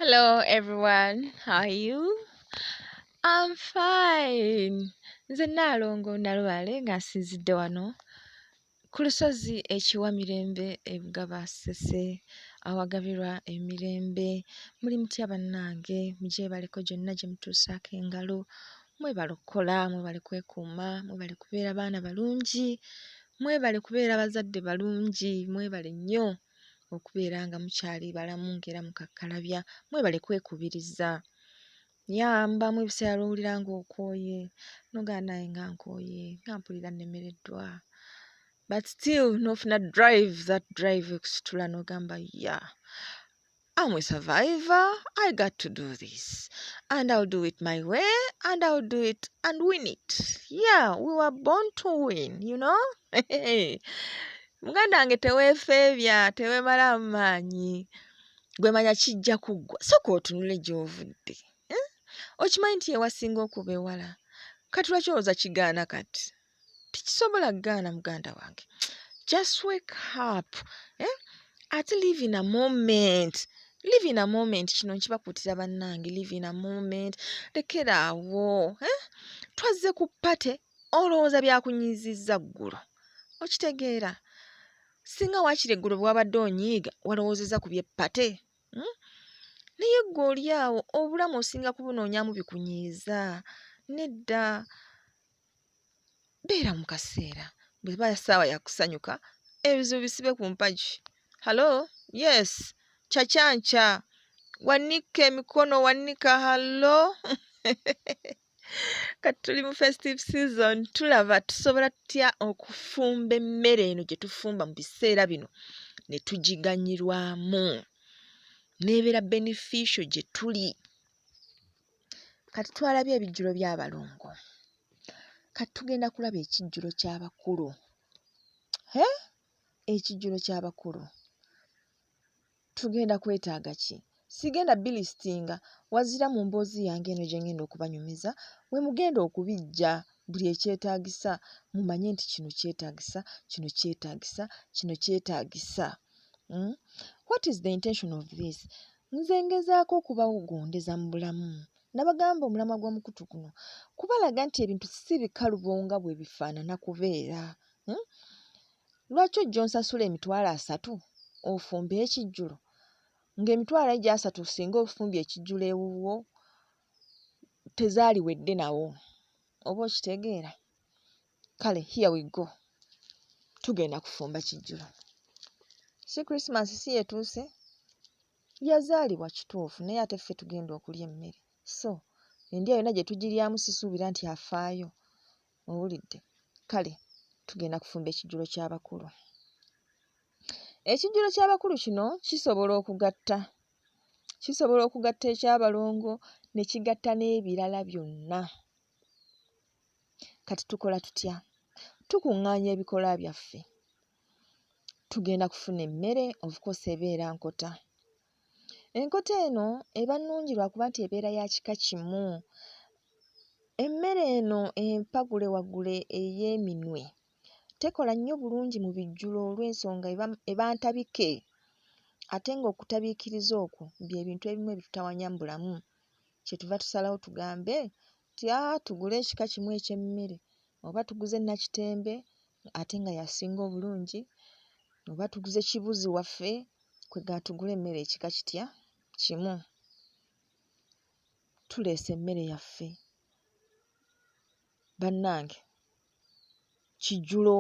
Hello everyone, how are you? I'm fine. Nze Nnaalongo Nalubaale nga nsinzidde wano ku lusozi ekiwa mirembe ebugaba ssese awagabirwa emirembe muli mutya bannange mugyebaleko gyonna gye mutuusaako engalo mwebale okukola mwebale kwekuuma mwebale kubeera baana balungi mwebale kubeera bazadde balungi mwebale nnyo okubeera nga mukyali balamu ng'era mukakkalabya mwebale kwekubiriza yamba mu ebiseera lwowulira nga okooye nogaa naye nga nkooye nga mpulira nnemereddwa but still nofuna drive that drive ekusitula nogamba ya I'm a survivor. I got to do this. And I'll do it my way. And I'll do it and win it. Yeah, we were born to win, you know? muganda wange teweefeebya teweemalaamu maanyi gwe manya kijja kuggwa soka otunule gy'ovudde eh? okimanyi nti yewasinga okuba ewala kati lwaki olowooza kigaana kati tikisobola gaana muganda wange just wake up eh? ate live in a moment live in a moment kino nkibakuutira bannange live in a moment lekera awo eh? twazze ku pate olowooza byakunyizizza ggulu okitegeera singa waakiri eggulu bwewabadde onyiiga walowoozeza ku byepate hmm? naye ggwe oli awo obulamu osinga kubunonyamu bikunyiiza nedda beera mu kaseera bweba saawa yakusanyuka ebizibu bisibe ku mpagi halo yes kyakyankya wanika emikono wanika halo kati tuli mu festive season tulaba tusobola tutya okufumba emmere eno gye tufumba mu biseera bino ne tugiganyirwamu nebeera beneficio gye tuli kati twalabye ebijjulo by'abalongo kati tugenda kulaba ekijjulo ky'abakulu hee ekijjulo ky'abakulu tugenda kwetaaga ki sigenda bilistinga wazira mu mboozi yange eno gye ngenda okubanyumiza we mugenda okubijja buli ekyetaagisa mumanye nti kino kyetaagisa kino kyetaagisa kino kyetaagisa hmm? what is the intention of this Nze ngezaako okubawugundeza mu bulamu nabagamba omulamwa gw'omukutu guno kubalaga nti ebintu si bikalubo nga bwe bifaanana kubeera. Hmm? Lwaki ojja onsasula emitwalo asatu ofumbe ekijjulo ng'emitwalo egyo asatu singa ofumbye ekijjulo ewuwo tezaaliwedde nawo oba okitegeera. kale here we go tugenda kufumba kijjulo si christmas si yetuuse yazaalibwa kituufu naye ate ffe tugenda okulya emmere so endya yonna gye tugiryamu sisuubira nti afaayo owulidde kale tugenda kufumba ekijjulo ky'abakulu ekijjulo ky'abakulu kino kisobola okugatta kisobola okugatta eky'abalongo ne kigatta n'ebirala byonna Kati tukola tutya? Tukuŋŋaanya ebikola byaffe, tugenda kufuna emmere, of course ebeera nkota. Enkota eno eba nnungi lwa kuba nti ebeera ya kika kimu. Emmere eno empagule wagule ey'eminwe tekola nnyo bulungi mu bijjulo olw'ensonga eba eba ntabike ate ng'okutabiikiriza okwo bye bintu ebimu ebitutawaanya mu bulamu kyetuva tusalawo tugambe Tya tugule ekika kimu eky'emmere oba tuguze nnakitembe ate nga y'asinga obulungi oba tuguze kibuzi waffe kwegamba tugule emmere ekika kitya kimu tuleese emmere yaffe bannange. kijjulo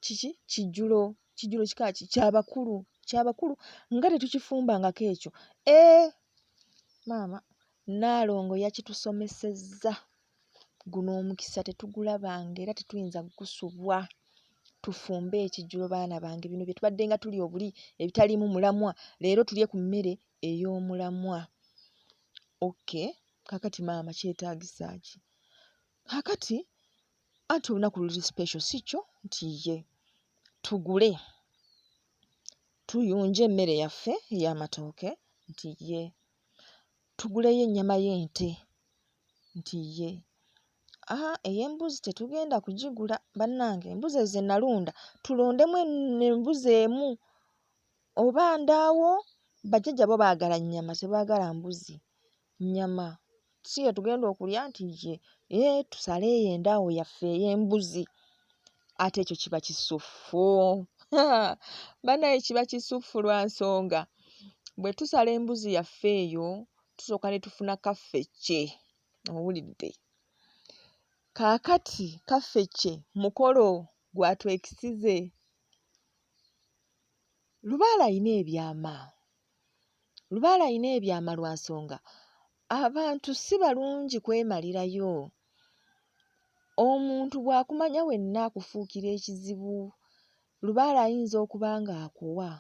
kiki kijjulo kijjulo kika ki kyabakulu kyabakulu nga tetukifumbangako ekyo ee eh, maama nnaalongo yakitusomesezza guno omukisa tetugulabanga era tetuyinza kugusubwa tufumbe ekijjulo baana bange bino bye tubadde nga tuli obuli ebitaliimu mulamwa leero tulye ku mmere ey'omulamwa okay kakati maama kyetaagisa ki Kaakati, anti olunaku luli special, si kyo? Nti, Yee, tugule, tuyunje emmere yaffe ey'amatooke. Nti, Yee, tuguleyo ennyama y'ente. Nti, Yee. Haa, ey'embuzi tetugenda kugigula, bannange. Embuzi ezo ze nnalunda, tulondemu embuzi emu. Oba ndaawo, bajjajja bo baagala nnyama, tebaagala mbuzi. nnyama si ye tugenda okulya nti ye ee tusale eyo endaawo yaffe ey'embuzi ate ekyo kiba kisuffu banaye kiba kisuffu lwa nsonga bwe tusala embuzi yaffe eyo tusooka ne tufuna kaffecce owulidde kaakati kaffecce mukolo gwatwekisize lubaala ayina ebyama Lubaale alina ebyama lwa nsonga abantu si balungi kwemalirayo. Omuntu bw'akumanya wenna akufuukira ekizibu. Lubaale ayinza okuba ng'akuwa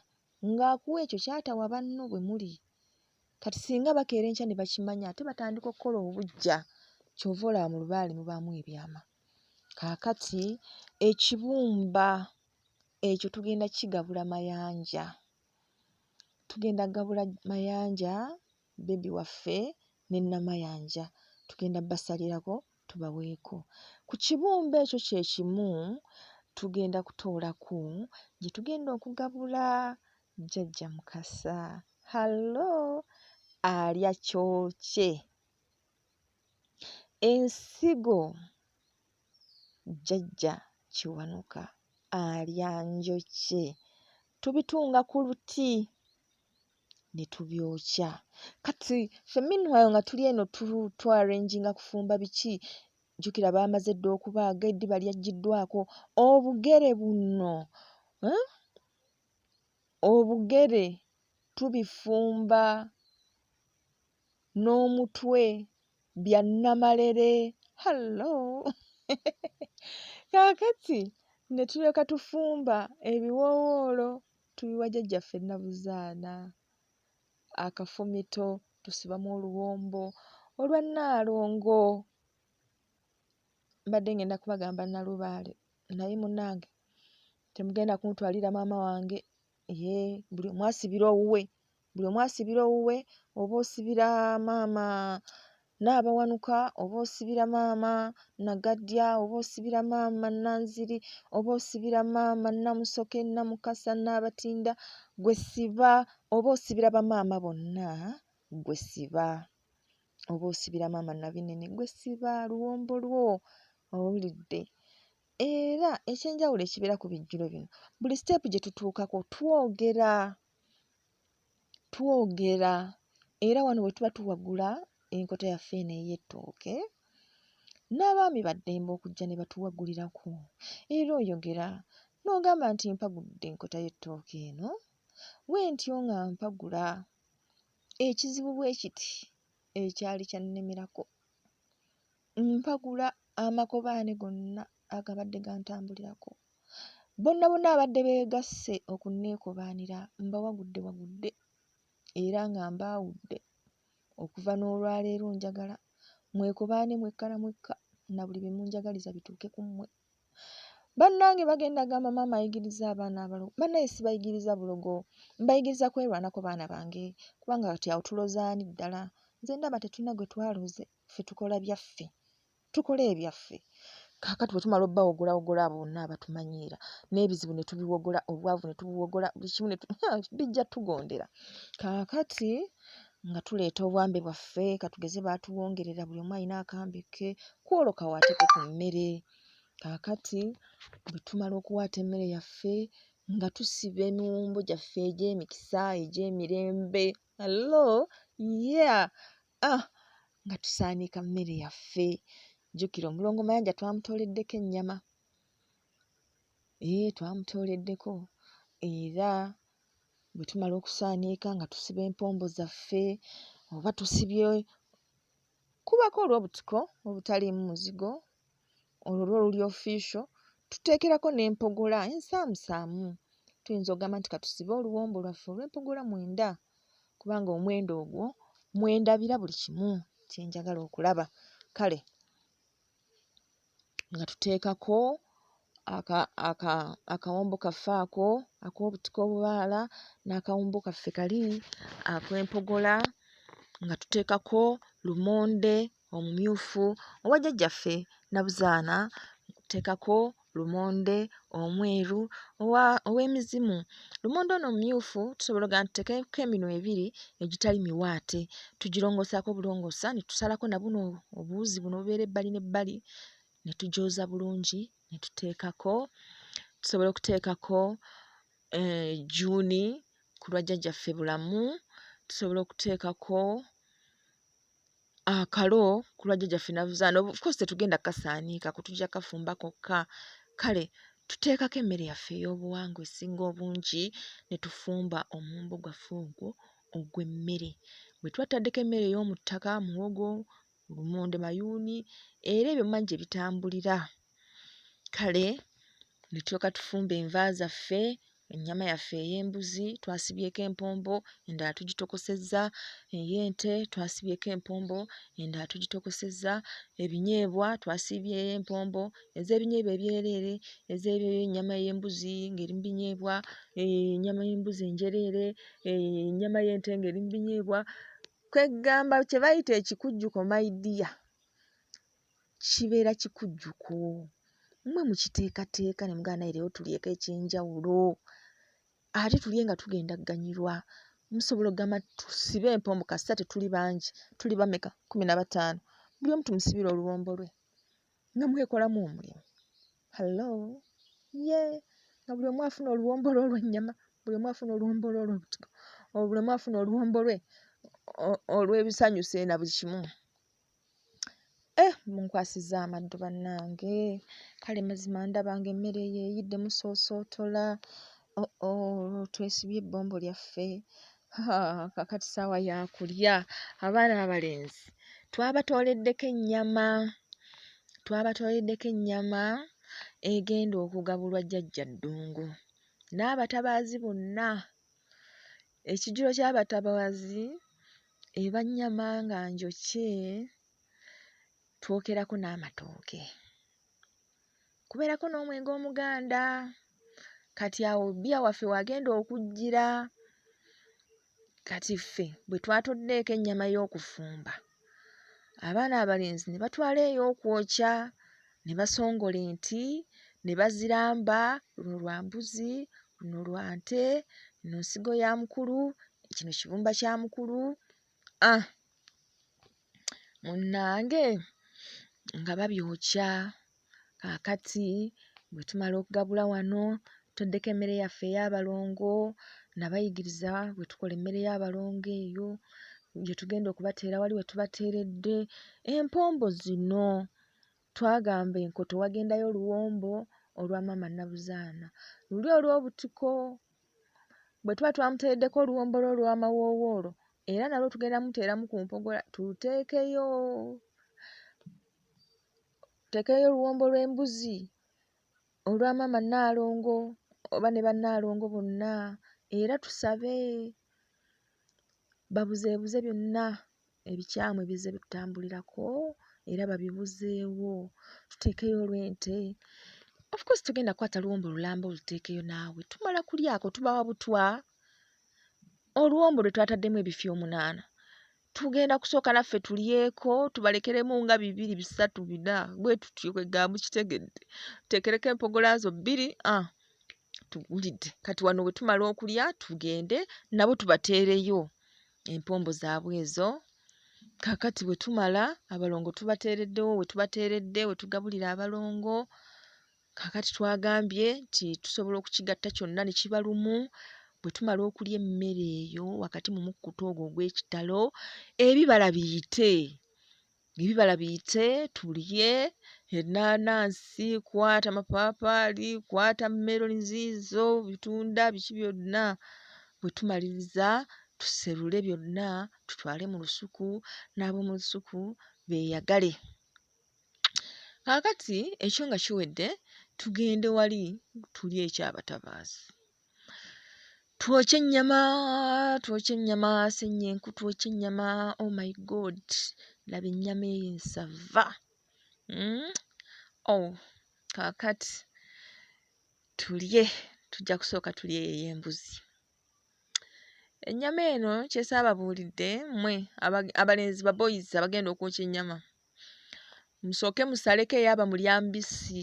ng'akuwa ekyo ky'atawa banno bwe muli. Kati singa bakeera enkya ne bakimanya ate batandika okukola obuggya. Ky'ova olaba mu lubaale mubaamu ebyama. Kaakati ekibumba ekyo tugenda kukigabula Mayanja. tugenda gabula Mayanja bbebi waffe ne Namayanja. Tugenda basalirako tubaweeko. Ku kibumba ekyo kye kimu tugenda kutoolako gye tugenda okugabula Jjajja Mukasa. Hallo! Alya kyokye. Ensigo. Jjajja Kiwanuka alya njokye. Tubitunga ku luti ne tubyokya. Kati ffe meanwhile nga tuli eno tuarenginga kufumba biki, jjukira baamaze dda okubaaga, eddiba lyaggyiddwaako. Obugere buno, eh, obugere tubifumba. n'omutwe bya nnamalere hallo! Kaakati ne tulyoka tufumba ebiwoowoolo tubiwa jjajjaffe Nabuzaana, akafumito tusibamu oluwombo olwa Nnaalongo. Mbadde ng'enda kubagamba Nnalubaale naye munnange temugenda kuntwalira maama wange. Yee buli omu asibira owuwe, buli omu asibira owuwe oba osibira maama Nnaabawanuka oba osibira maama Nagaddya oba osibira maama Nanziri oba osibira maama Namusoke, Namukasa, Nnaabatinda ggwe siba oba osibira bamaama bonna ggwe siba oba osibira maama Nabinene ggwe siba luwombo lwo owulidde era ekyenjawulo ekibeera ku bijjulo bino buli siteepu gye tutuukako twogera twogera era wano we tuba tuwagula enkota yaffe eno ey'ettooke n'abaami baddembe okujja ne batuwagulirako era oyogera n'ogamba nti mpagudde enkota y'ettooke eno wentyo nga mpagula ekizibu bwe kiti ekyali kyannemerako mpagula amakobaane gonna agabadde gantambulirako. Bonna bonna abadde beegasse okunneekobaanira mbawagudde wagudde era nga mbaawudde. Okuva n'olwaleero njagala mwekobaane mwekka na mwekka na buli bye munjagaliza bituuke ku mmwe. Bannange bagenda gamba maama ayigiriza abaana abalogo. Bannange sibayigiriza bulogo, mbayigiriza kwerwanako baana bange kubanga kati awo tuloze ani ddala? Nze ndaba tetulina gwe twaloze. ffe tukola byaffe tukola ebyaffe kakati wetumala obawogola wogola abo bonna abatumanyiira n'ebizibu ne tubiwogola obwavu ne tubuwogola buli kimu bijja tugondera kakati nga tuleeta obwambe bwaffe katugeze baatuwongerera buli omu alina akambe ke kwolwo kawaateko ku mmere kakati bwe tumala okuwaata emmere yaffe nga tusiba emiwumbo gyaffe egy'emikisa egy'emirembe allo ye yeah. ah, nga tusaaniika mmere yaffe jjukira omulongo mayanja twamutooleddeko ennyama ee eh, twamutooleddeko era bwe tumala okusaaniika nga tusiba empombo zaffe oba tusibye kubako olw'obutiko obutaliimu muzigo olwo lwo luli official tuteekerako n'empogola ensaamusaamu tuyinza ogamba nti katusibe oluwombo lwaffe olw'empogola mwenda kubanga omwenda ogwo mwendabira buli kimu kye njagala okulaba kale nga tuteekako aka aka akawombo kaffe ako ak'obutiko obubaala n'akawombo kaffe kali akw'empogola nga tuteekako lumonde omumyufu owa jjajjaffe Nabuzaana teekako lumonde omweru owa ow'emizimu. Lumonde ono omumyufu tusobola oggamba nti tuteekeko eminwe ebiri egitali miwaate. Tugirongoosaako bulongoosa ne tusalako na buno obuwuzi buno obubeera ebbali n'ebbali ne tugyoza bulungi ne tuteekako. Tusobola okuteekako ejjuuni ku lwa jjajjaffe Bulamu, tusobola okuteekako... akalo ku lwa jjajjaffe navuzaana of course tetugenda kasaaniika ku tujja kafumba kokka kale tuteekako emmere yaffe ey'obuwangwa esinga obungi ne tufumba omumbo gwaffe ogwo ogw'emmere bwe tuba tutaddeko emmere ey'omu ttaka muwogo, lumonde, mayuuni era ebyo mmanya gye bitambulira. kale ne tulyoka tufumba enva zaffe ennyama yaffe ey'embuzi twasibyeko empombo endala tugitokosezza ey'ente twasibyeko empombo endala tugitokosezza ebinyeebwa twasiibyeyo empombo ez'ebinyeebwa ebyereere ez'ennyama y'embuzi ng'eri mu binyeebwa ennyama y'embuzi enjereere ennyama y'ente ng'eri mu binyeebwa kweggamba kye bayita ekikujjuko my dear kibeera kikujjuko mwe mukiteekateeka ne mugamba naye leero tulyeko eky'enjawulo ate tulye nga tugenda kuganyulwa musobola okugamba tusibe empombo kasita tetuli bangi tuli bameka kkumi na bataano buli omu tumusibire oluwombo lwe nga mwekolamu omulimu hallo ye nga buli omu afuna oluwombo lwe olw'ennyama buli omu afuna oluwombo lwe olw'obutiko buli omu afuna oluwombo lwe olw'ebisanyusa na buli kimu Eh, munkwasiza amaddu bannange kale mazima ndaba nga emmere eyo eyidde musoosootola oh, oh, twesibye ebbombo lyaffe kakati saawa yakulya abaana abalenzi twabatooleddeko ennyama twabatooleddeko ennyama egenda okugabulwa jjajja ddungu n'abatabaazi bonna ekijjulo ky'abatabaazi Eba nnyama nga njokye, twokerako n'amatooke, kubeerako n'omwenge omuganda. Kati awo bbiya waffe w'agenda okujjira. Kati ffe bwe twatoddeeko ennyama y'okufumba, abaana abalenzi ne batwala ey'okwokya. ne basongola enti ne baziramba luno lwa mbuzi luno lwa nte eno nsigo ya mukulu kino kibumba kya mukulu ah munnange nga babyokya kaakati bwe tumala okugabula wano toddeko emmere yaffe ey'abalongo nabayigiriza bwe tukola emmere y'abalongo eyo gye tugenda okubateera wali we tubateeredde empombo zino Twagamba enkoto wagendayo oluwombo olwa maama Nabuzaana. Luli olw'obutiko. Bwe tuba twamuteereddeko oluwombo lwe olw'amawoowoolo era nalwo tugenda muteeramu ku mpogola tuluteekeyo. Tuteekeyo oluwombo lw'embuzi olwa maama Nnaalongo oba ne bannaalongo bonna era tusabe babuzeebuze byonna. ebikyamu ebizze bitutambulirako era babibuzeewo tuteekeyo olw'ente of course tugenda kukwata luwombo lulamba oluteekeyo naawe tumala kulyako tubawa butwa oluwombo lwe twataddemu ebifi omunaana tugenda kusooka naffe tulyeko tubalekeremu nga bibiri bisatu bina bwe tutyo kwegamba kitegedde tuteekereko empogola zo bbiri ah, tugulidde kati wano bwe tumala okulya tugende nabo tubateereyo empombo zaabwe ezo kakati bwe tumala abalongo tubateereddewo we tubateeredde we tugabulira abalongo kakati twagambye nti tusobola okukigatta kyonna ne kiba lumu bwe tumala okulya emmere eyo wakati mu mukkuta ogwo ogw'ekitalo ebibala biyite ebibala biyite tulye ennaanansi kwata mapaapaali kwata meloni ziizo bitunda biki byonna bwe tumaliriza tuserule byonna tutwale mu lusuku n'ab'omu lusuku beeyagale kaakati ekyo nga kiwedde tugende wali tulye ekyabatabaazi twokye ennyama twokye ennyama sennyenku twokye ennyama oh my god laba ennyama eyo ensava mm? oh kaakati tulye tujja kusooka tulye eyo ey'embuzi ennyama eno kyesaababuulidde mmwe aba- abalenzi baboyizi abagenda okwokya ennyama musooke musaleko eyaba mulya mbisi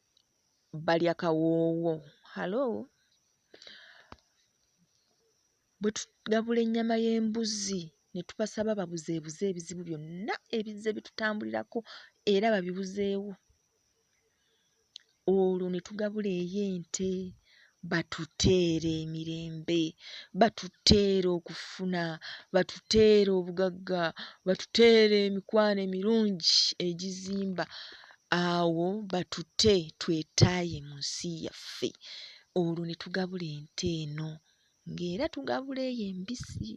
balya kawoowo halo bwe tugabula ennyama y'embuzi ne tubasaba babuzeebuze ebizibu byonna ebizze bitutambulirako era babibuzeewo olwo ne tugabula ey'ente batuteere emirembe, batuteere okufuna, batuteere obugagga, batuteere emikwano emirungi egizimba awo batute twetaaye mu nsi yaffe olwo ne tugabula ente eno ng'era tugabula eyo embisi.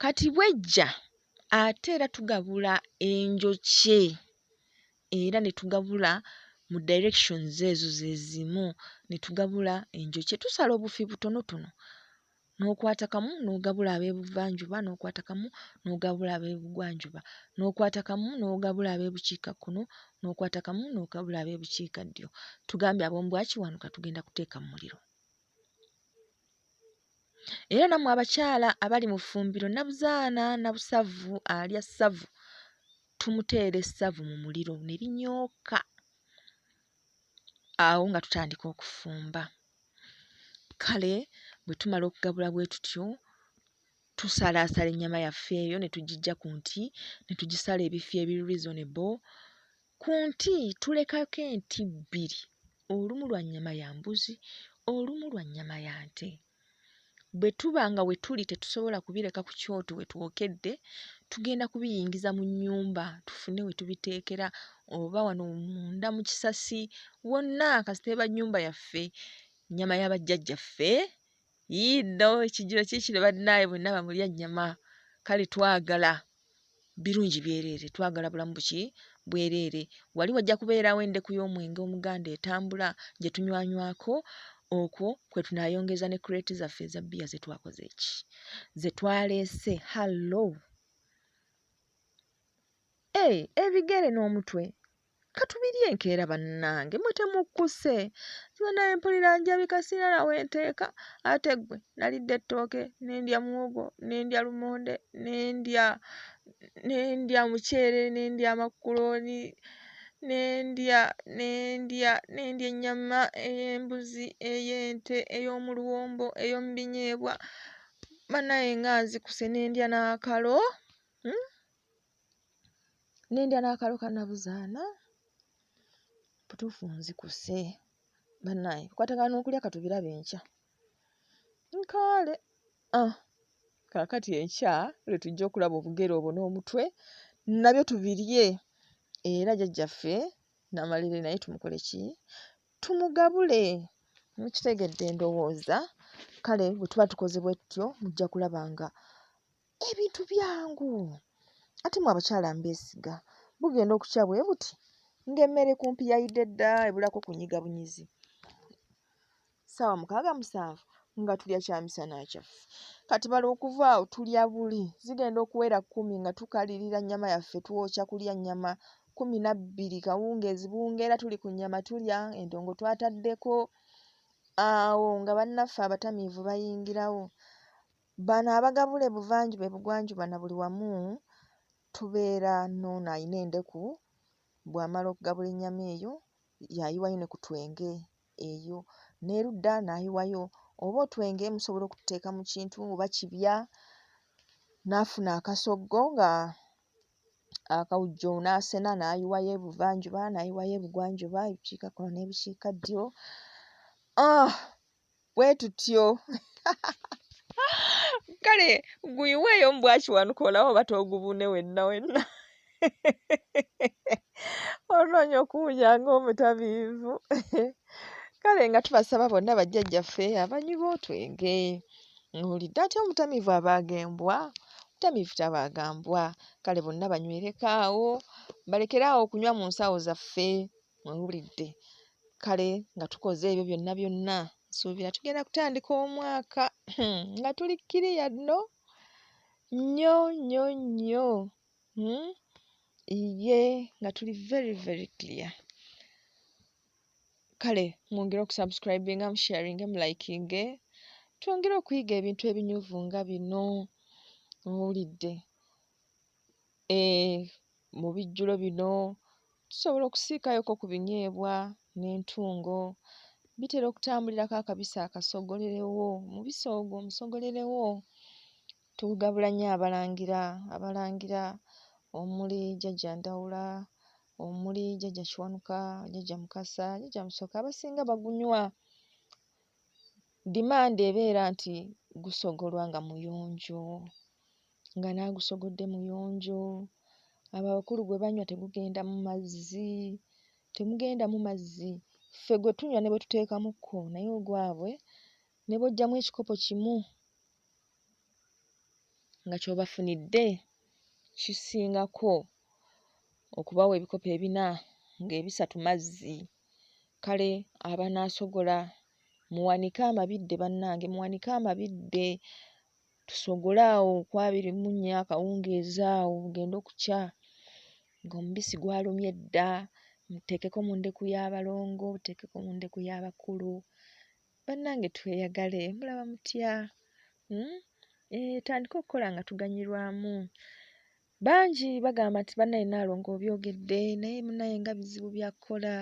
Kati bw'ejja ate era tugabula enjokye. era ne tugabula mu directions ezo ze zimu ne tugabula enjokye tusala obufi butonotono n'okwata kamu n'ogabula ab'ebuvanjuba n'okwata kamu n'ogabula ab'ebugwanjuba n'okwata kamu n'ogabula ab'ebukiikakkono n'okwata kamu n'ogabula ab'ebukiikaddyo tugambye ab'omu bwakiwanuka tugenda kuteeka mu muliro era nammwe abakyala abali mu ffumbiro nabuzaana nabusavu alya ssavu tumuteera essavu mu muliro ne linyooka awo nga tutandika okufumba kale bwe tumala okugabula bwe tutyo tusalaasala ennyama yaffe eyo ne tugiggya ku nti ne tugisala ebifi ebiri reasonable Ku nti tulekako enti bbiri, olumu lwa nnyama ya mbuzi, olumu lwa nnyama ya nte. Bwe tuba nga we tuli tetusobola kubireka ku kyoto we twokedde, tugenda kubiyingiza mu nnyumba tufune we tubiteekera oba wano munda mu kisasi wonna kasita eba nnyumba yaffe, nnyama ya bajjajjaffe Yii no ekijjulo kikino bannaaye mwenna bamulya nnyama kale twagala birungi byereere twagala bulamu buki bwereere wali wajja kubeerawo endeku y'omwenge omuganda etambula gye tunywanywako okwo kwe tunaayongeza ne kureeti zaffe eza bbiya ze twakoze eki ze twaleese hallo ee eh, ebigere n'omutwe Katubiri enkeera bannange mwe temukkuse nziba naye mpulira njabika sirina na we nteeka ate ggwe nalidde ettooke ne ndya muwogo ne ndya lumonde ne ndya ne ndya muceere ne ndya makkulooni ne ndya ne ndya ne ndya ennyama ey'embuzi ey'ente ey'omu luwombo ey'omu binyeebwa bannange nga nzikuse ne ndya n'akalo. Nnindya n'akalo ka nnabuzaana butuufu nzikuse bannange nkwatagana n'okulya ka tubirabe enkya nkaale ah kaakati enkya lwe tujja okulaba obugere obwo n'omutwe nabyo tubirye era jjajjaffe Namalere naye tumukole ki tumugabule mukitegedde ndowooza kale bwe tuba tukoze bwe tutyo mujja kulaba nga ebintu byangu ate mwe abakyala mbeesiga bugenda okukya bwe buti ng'emmere kumpi yayidde dda ebulako kunyiga bunyizi ssaawa mukaaga musanvu nga tulya kyamisana kyaffe kati bala okuva awo tulya buli zigenda okuwera kkumi nga tukalirira nnyama yaffe twokya kulya nnyama kkumi na bbiri kawungeezi bungeera tuli ku nnyama tulya endongo twataddeko awo nga bannaffe abatamiivu bayingirawo Bano abagabula ebuvanjuba ebugwanjuba na buli wamu tubeera n'ono alina endeku bw'amala okugabula ennyama eyo y'ayiwayo ne ku twenge eyo n'erudda n'ayiwayo oba otwenge musobola okututeeka mu kintu oba kibya n'afuna akasoggo nga akawujjo n'asena n'ayiwayo ebuvanjuba n'ayiwayo ebugwanjuba ebukiikakkono n'ebukiikaddyo ah! bwe tutyo kale guyiweeyo mu bwakiwanuka olaba oba toogubune wenna wenna onoonya okuwunya ng'omutabiivu kale nga tubasaba bonna bajjajjaffe abanywi b'otwenge owulidde atya omutamiivu abaaga embwa omutamiivu tabaaga mbwa kale bonna banywereko awo balekere awo okunywa mu nsawo zaffe Muwulidde? Kale nga tukoze ebyo byonna byonna, nsuubira tugenda kutandika omwaka hmm, nga tuli kkiriya nno nnyo nnyo nnyo. Hmm? Iye, nga tuli very very clear. Kale mwongere okusubscribinga, musharinge, mulikinge, twongere okuyiga ebintu ebinyuvu nga bino. Muwulidde? Eeh mu bijjulo bino tusobola okusiikayoko ku binyeebwa n'entungo. Bitera okutambulirako akabisi akasogolerewo, omubisi ogwo omusogolerewo. Tugabula nnyo Abalangira, Abalangira omuli Jjajja Ndawula, omuli Jjajja Kiwanuka, Jjajja Mukasa, Jjajja Musoke abasinga bagunywa. Demand ebeera nti gusogolwa nga muyonjo. nga n'agusoggodde muyonjo, abo abakulu gwe banywa tegugendamu mazzi, temugendamu mazzi, ffe gwe tunywa ne bwe tuteekamukko naye ogwabwe ne bw'oggyamu ekikopo kimu nga ky'obafunidde kisingako okubawa ebikopo ebina ng'ebisatu mazzi. Kale abanaasogola muwanike amabidde bannange, muwanike amabidde tusogole awo ku abiri mu nnya akawungeezi awo bugende okukya ng'omubisi gwalumye dda, muteekeko mu ndeku y'abalongo, muteekeko mu ndeku y'abakulu. Bannange tweyagale mulaba mutya? Hmm? Etandike eh, okukola nga tuganyulwamu. Bangi bagamba nti banaye Nalongo obyogedde naye munaye nga bizibu byakukola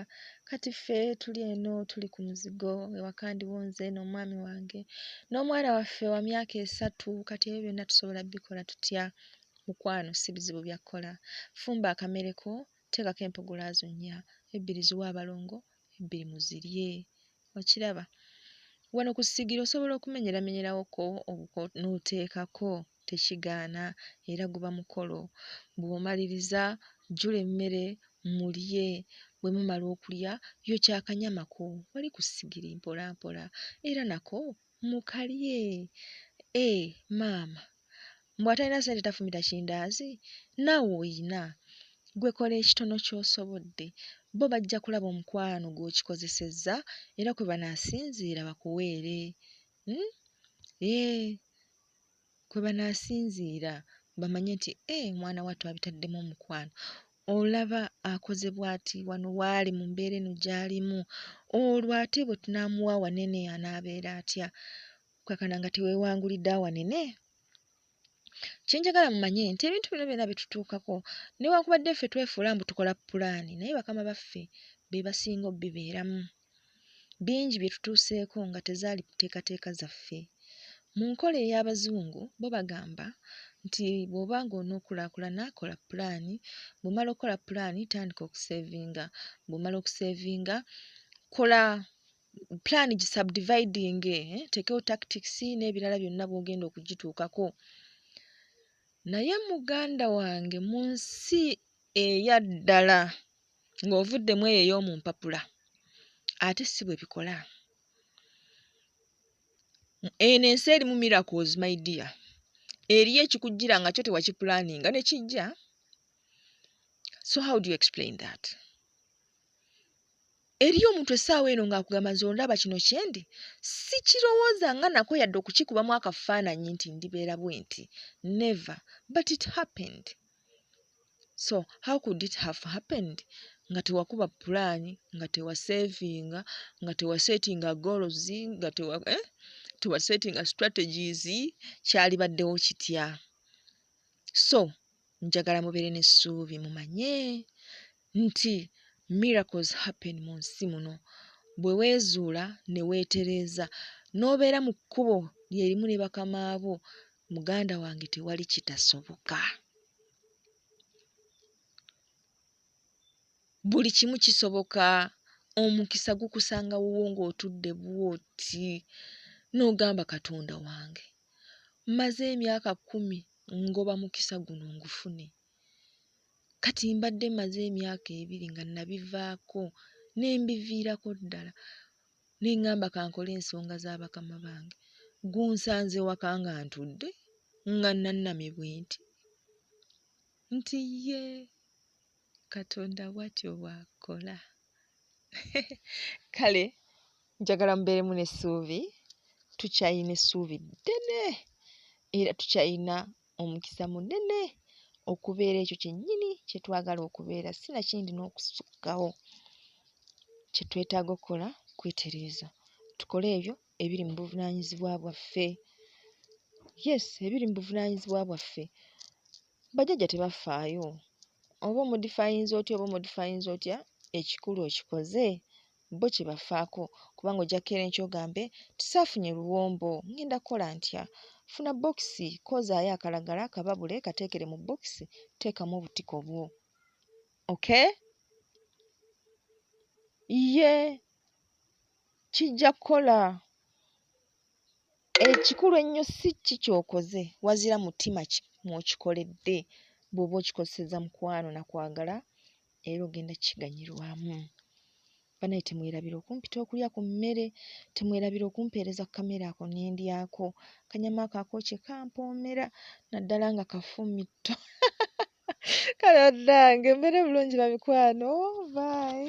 kati ffe tuli eno tuli ku muzigo ewaka ndiwo nze n'omwami wange n'omwana waffe wa myaka esatu kati ebyo byonna tusobola bikola tutya mukwano si bizibu byakukola fumba akamereko teekako empogolaazo nnya ebbiri ziwa abalongo ebbiri muzirye okiraba wano ku ssigiri osobola okumenyeramenyerawoko obuko n'oteekako tekigaana era guba mukolo bw'omaliriza jjula emmere mulye bwe mumala okulya yokya akanyama ko wali ku ssigiri mpolampola era nako Mukalye eh maama mbu atalina sente tafumita kindaazi naawe oyina gwe kola ekitono ky'osobodde bo bajja kulaba omukwano gw'okikozesezza era kwe banaasinziira bakuweere uhm eeh. kwe banaasinziira bamanye nti ee eh, mwana wattu abitaddemu omukwano olaba akoze bw'ati wano waali mu mbeera eno gy'alimu olwo ate bwe tunaamuwa awanene anaabeera atya okukakana nga teweewangulidde awanene kye njagala mumanye nti ebintu bino byonna bitutuukako newankubadde ffe twefuula mbu tukola pulaani naye bakama baffe be basinga obibeeramu bingi bye tutuuseeko nga tezaali mu nteekateeka zaffe. Mu nkola ey'Abazungu bo bagamba nti bw'oba ng'onookulaakulana kola pulaani, bw'omala okukola pulaani tandika okuseevinga, bw'omala okuseevinga kola pulaani gisabdividinge, teekewo tactics n'ebirala byonna bw'ogenda okugituukako. Naye muganda wange mu nsi eya ddala ng'ovudde mu eyo ey'omu mpapula ate si bwe bikola. Eno ensi erimu miracles my dear. Eriyo ekikujjira nga kyo tewakipulaaninga ne kijja. So how do you explain that? eriyo omuntu essaawa eno ng'akugamba nze ondaba kino kyendi sikirowooza nga nako yadde okukikubamu akafaananyi nti ndibeera bwenti never but it happened so how could it have happened nga tewakuba pulaani nga tewasevinga nga tewasetinga goals nga tewa eh? tewasetinga strategies kyalibaddewo kitya so njagala mubeere n'essuubi mumanye nti miracles happen mu nsi muno bwe weezuula ne weetereeza n'obeera mu kkubo lye limu ne bakama bo muganda wange tewali kitasoboka buli kimu kisoboka omukisa gukusanga wuwo ng'otudde bwoti n'ogamba katonda wange mmaze emyaka kkumi ngoba mukisa guno ngufune Kati mbadde mmaze emyaka ebiri nga nabivaako ne mbiviirako ddala ne ŋŋamba kankole ensonga za bakama bange. Gunsanze waka nga ntudde nga nnannamye bwe nti nti ye Katonda bw'atyo bw'akola. Kale njagala mubeeremu n'essuubi, tukyalina essuubi ddene era tukyalina omukisa munene okubeera ekyo kyennyini kye twagala okubeera si na kindi n'okusukkawo kye twetaaga okukola kwetereeza tukole ebyo ebiri mu buvunaanyizibwa bwaffe yes ebiri mu buvunaanyizibwa bwaffe bajjajja tebafaayo oba omudifayinza otya oba omudifayinza otya ekikulu okikoze bo kibafaako kubanga ojja kukeera enkya ogambe nti saafunye luwombo ngenda kukola ntya funa bokisi koozaayo akalagala kababule kateekere mu bokisi teekamu obutiko bwo okay ye kijja kukola ekikulu ennyo si ki kyokoze wazira mutima ki mwokikoledde bw'oba okikozeseza mukwano na kwagala era ogenda kiganyirwamu. Banaye temwerabira okumpita okulya ku mmere, temwerabira okumpeereza ku kamere ako ne ndyako. Akanyama ako akookye kampoomera naddala nga kafu mitto. Kale bannange mbeere bulungi bamikwano, bye.